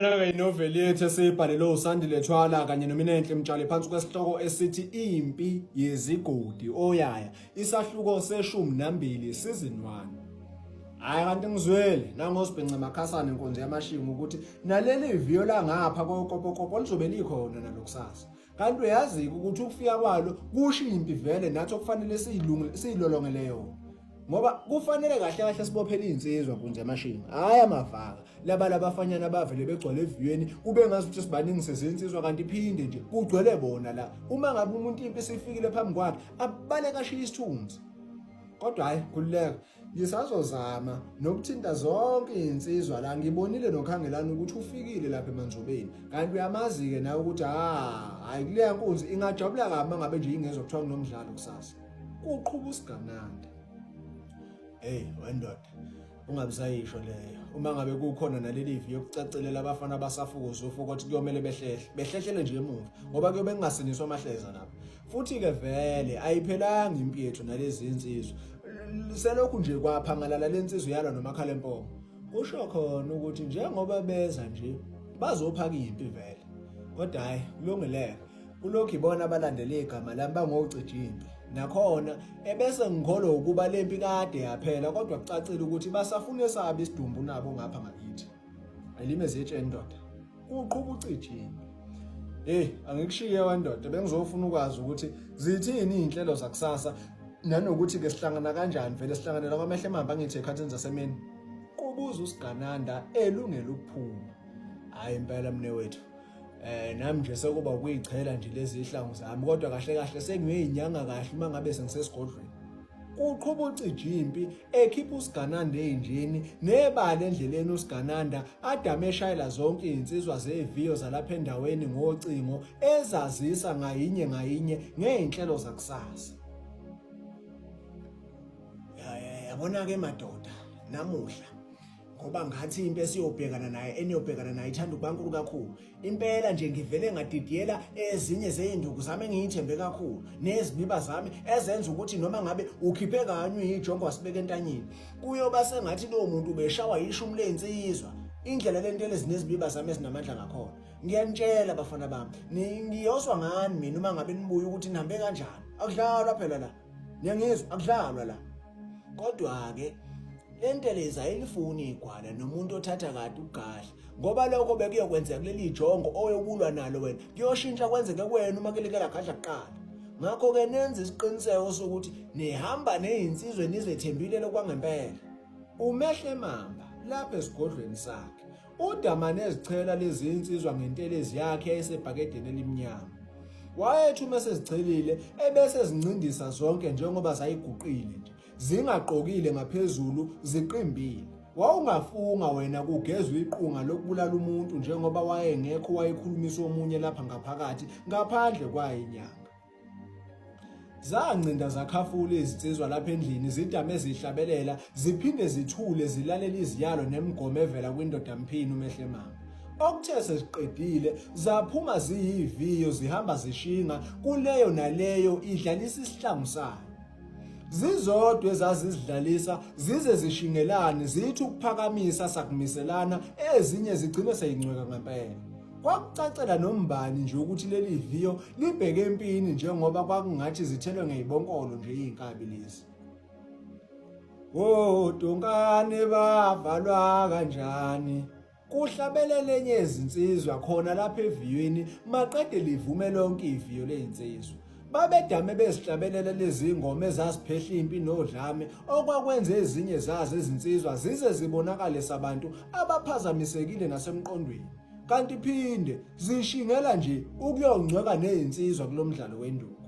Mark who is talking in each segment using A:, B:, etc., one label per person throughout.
A: Nayo inoveli yethu esiyibhalelwe uSandile Thwala kanye noMinenhle Mtshali phansi kwesihloko esithi Impi Yezigodi Oyaya isahluko seshumi nambili season 1. Hayi kanti ngizwele nangosibhinca makhasana inkonzo yamashinga ukuthi naleli viyo langapha kokopokopo lizobe likhona nalokusasa. kanti uyazi ukuthi ukufika kwalo kusho impi vele nathi okufanele siyilolongele yona ngoba kufanele kahle kahle sibophele izinsizwa kunje amashini hayi amavaka laba labafanyana bavele begcwele eviyweni kube ngazi ukuthi sibaningi sezinsizwa kanti iphinde nje kugcwele bona la uma ngabe umuntu impi sifikile phambi kwakhe abale kashiya isithunzi kodwa hayi khululeka Ngisazozama nokuthinta zonke izinsizwa la ngibonile nokhangelana ukuthi ufikile lapha emanzobeni kanti uyamazi-ke nawe ukuthi hhayi kuleya nkunzi ingajabula kabi uma ngabe nje ingezwa kuthiwa kunomdlalo kusasa kuqhuba usigananda eyi wendoda ungabisayisho leyo uma ngabe kukhona naleli vi yokucacelela abafana abasafukuza ufuko ukuthi kuyomele behlehle behlehlele nje emuva ngoba kuyobe kungasingiswa amahleza lapho Futhi-ke vele ayiphelanga impi yethu nalezi insizwa. Selokhu nje kwaphangalala le nsizwa yalwa nomakhalempomo. Kusho khona ukuthi njengoba beza nje bazophaka impi vele. Kodwa hayi kulungileke. Kulokhu ibona abalandela igama lami bangocija impi. Nakhona ebese ngikholwa ukuba le mpi kade yaphela kodwa kucacile ukuthi basafuna esabi isidumbu nabo ngapha ngakithi. Elime zitshe indoda. Uqhuba ucijini. Hey, angikushiye wandoda bengizofuna ukwazi ukuthi zithini izinhlelo zakusasa nanokuthi ke sihlangana kanjani vele sihlanganela kwamehlo emambi angithi ekhathini zasemini. Kubuza usigananda elungela ukuphuma. Hayi impela mne wethu. Eh nami nje sekuba ukuyichela nje lezi ihlangu zami kodwa kahle kahle sengiyinyanga kahle uma ngabe sengisesigodlweni. Uqhuba ucijimpi ekhipha usigananda ey'njeni nebala endleleni usigananda adame eshayela zonke iy'nsizwa zeviyo zalapha endaweni ngocingo ezazisa ngayinye ngayinye ngey'nhlelo zakusasa yabona-ke madoda namuhla ngoba ngathi into esiyobhekana naye eniyobhekana naye ithanda ukubankulu kakhulu impela nje ngivele ngadidiyela ezinye zeyinduku zami engiyithembe kakhulu nezibiba zami ezenza ukuthi noma ngabe ukhiphe kanywe yijongo wasibeka entanyeni kuyoba sengathi lowo muntu ubeshawa yishumi lensizwa indlela lento elezinezibiba zami ezinamandla ngakhona ngiyanitshela bafana bami ngiyoswa ngani mina uma ngabe nibuye ukuthi nihambe kanjani akudlalwa phela la niyangizwa akudlalwa la kodwa-ke le ntelezi ayilifuni igwala nomuntu othatha kade ugahle ngoba lokho bekuyokwenzeka kuleli jongo oyokulwa nalo wena kuyoshintsha kwenzeke kwena uma kelekela gadla kuqala ngakho-ke nenze isiqiniseko sokuthi nihamba neyinsizwe nizethembile lokwangempela umehle mamba lapha esigodlweni sakhe UDamane ezichela lezi insizwa ngentelezi yakhe esebhakedeni elimnyama. Wayethi uma sezichelile ebese zincindisa zonke njengoba zayiguqile nje, zingaqokile ngaphezulu, ziqimbile. Wawungafunga wena kugezwa iqunga lokubulala umuntu njengoba wayengekho wayekhulumisa omunye lapha ngaphakathi ngaphandle kwayinyanga. Zancinda zakhafula izinsizwa lapha endlini zidame zihlabelela ziphinde zithule zilalele iziyalo nemigomo evela kwindoda mphini umehle mama. Okuthe seziqedile zaphuma ziyiviyo zihamba zishinga kuleyo naleyo idlalisa isihlangu sayo. Zizodwa ezazizidlalisa zize zishingelane zithi ukuphakamisa sakumiselana ezinye zigcine seyincweka ngempela. Kwakucacela nombani nje ukuthi leli viyo libheke empini njengoba kwakungathi zithelwe ngeyibonkolo nje izinkabi lezi. Oh donkane bavalwa kanjani? Kuhlabelele enye izinsizwa khona lapha eviyweni maqede livume lonke iviyo lezinsizwa. Babedame bezihlabelela lezi ngoma ezaziphehla impi nodlame okwakwenza ezinye zazo izinsizwa zize zibonakale sabantu abaphazamisekile nasemqondweni kanti phinde zishingela nje ukuyongcweka nezinsizwa kulomdlalo wenduku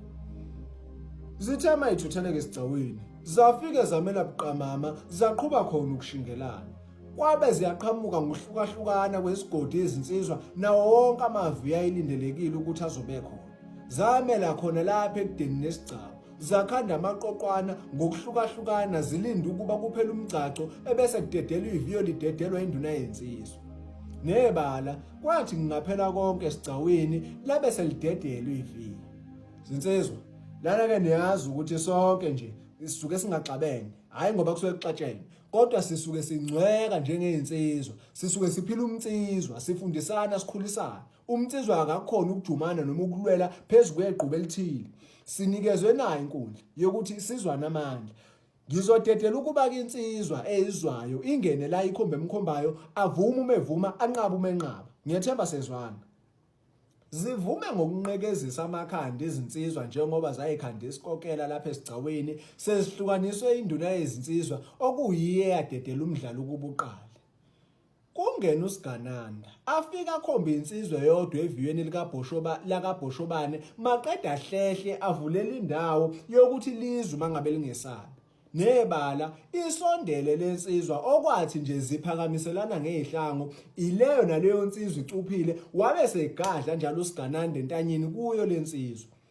A: Zithema ithutheleke esigcawini zafike zamela buqamama zaqhuba khona ukushingelana kwabe ziyaqhamuka ngohlukahlukana kwesigodi izinsizwa nawo wonke amavi ayilindelekile ukuthi azobe khona zamela khona lapha ekudeni nesigcawu zakhanda amaqoqwana ngokuhlukahlukana zilinde ukuba kuphele umgcagco ebese kudedelwa iviyo lidedelwa induna yensizwa nebala kwathi ngingaphela konke esigcawini labe selidedelwa iviyo zinsizwa lana ke niyazi ukuthi sonke nje sisuke singaxabene hayi ngoba kusuke kuxatshene kodwa sisuke singcweka njengey'nsizwa sisuke siphila umnsizwa sifundisana sikhulisana Umnsizwa akakhona ukujumana noma ukulwela phezu kweqhubu elithile. Sinikezwe nayo inkundla yokuthi isizwane amandla. Ngizodedela ukuba kinsizwa eyizwayo ingene la ikhombe emkhombayo avume uma evuma anqaba uma enqaba. Ngiyethemba sezwana. Zivume ngokunqekezisa amakhanda izinsizwa njengoba zayikhanda isikokela lapha esigcawini sezihlukaniswe induna yezinsizwa okuyiyo eyadedela umdlalo ukubuqala. Kungena uSigananda afike akhombe insizwa yodwa eviyweni likabhoshoba lakabhoshobane maqeda hlehle avulela indawo yokuthi lizwe mangabe lingesabi nebala isondele lensizwa okwathi nje ziphakamiselana ngehlango ileyo naleyo nsizwa icuphile wabe segadla njalo uSigananda entanyeni kuyo lensizwa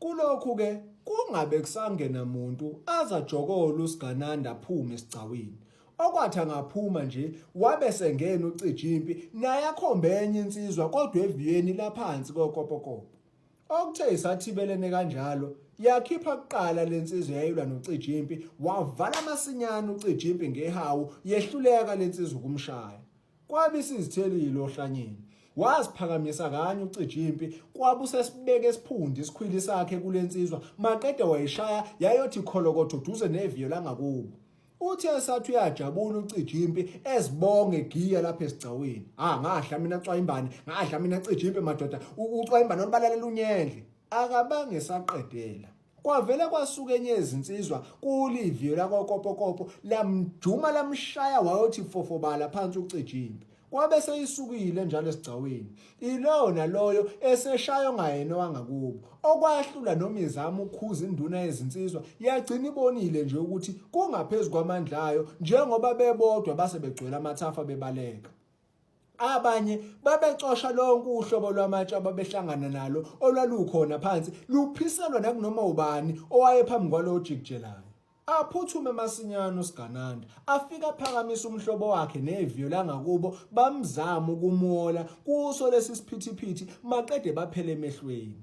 A: Kulokhu-ke kungabe kusangena muntu azajokola uSigananda aphume esigcawini. Okwathi angaphuma nje wabe sengena uCijimpi naye akhombe enye insizwa kodwa eviyweni laphansi kokopokopo. Okuthe isathibelene kanjalo yakhipha kuqala lensizwa yayilwa noCijimpi wavala masinyane uCijimpi ngehawu yehluleka lensizwa ukumshaya. Kwabe isizithelile ohlanyeni. Waziphakamisa kanye ucija impi kwabe usesibeke esiphundi isikhwili sakhe kulensizwa maqede wayishaya yayothi kholokotho duze neviyo langakubo. Uthi esathi uyajabula ucija impi ezibonge giya lapha esigcaweni. Ah ngahla mina cwayimbane, ngahla mina cija impi madoda, ucwayimbane olubalalela unyendle. Akabange saqedela. Kwavele kwasuka enye izinsizwa kuliviyo lakwakopokopo lamjuma lamshaya wayothi fofobala phansi ucijimbi kwabe seyisukile njalo esigcaweni ilowo naloyo eseshaywa ngayena wangakubo okwahlula noma izama ukhuza induna yezinsizwa yagcina ibonile nje ukuthi kungaphezulu kwamandla ayo njengoba bebodwa base begcwele amathafa bebaleka abanye babecosha lonke uhlobo lwamatshe ababehlangana nalo olwalukhona phansi luphiselwa nakunoma ubani owayephambi kwalowo jikijelayo aphuthume masinyane uSigananda afika aphakamisa umhlobo wakhe neviyo langakubo bamzama ukumuola kuso lesi siphithiphithi maqede baphele emehlweni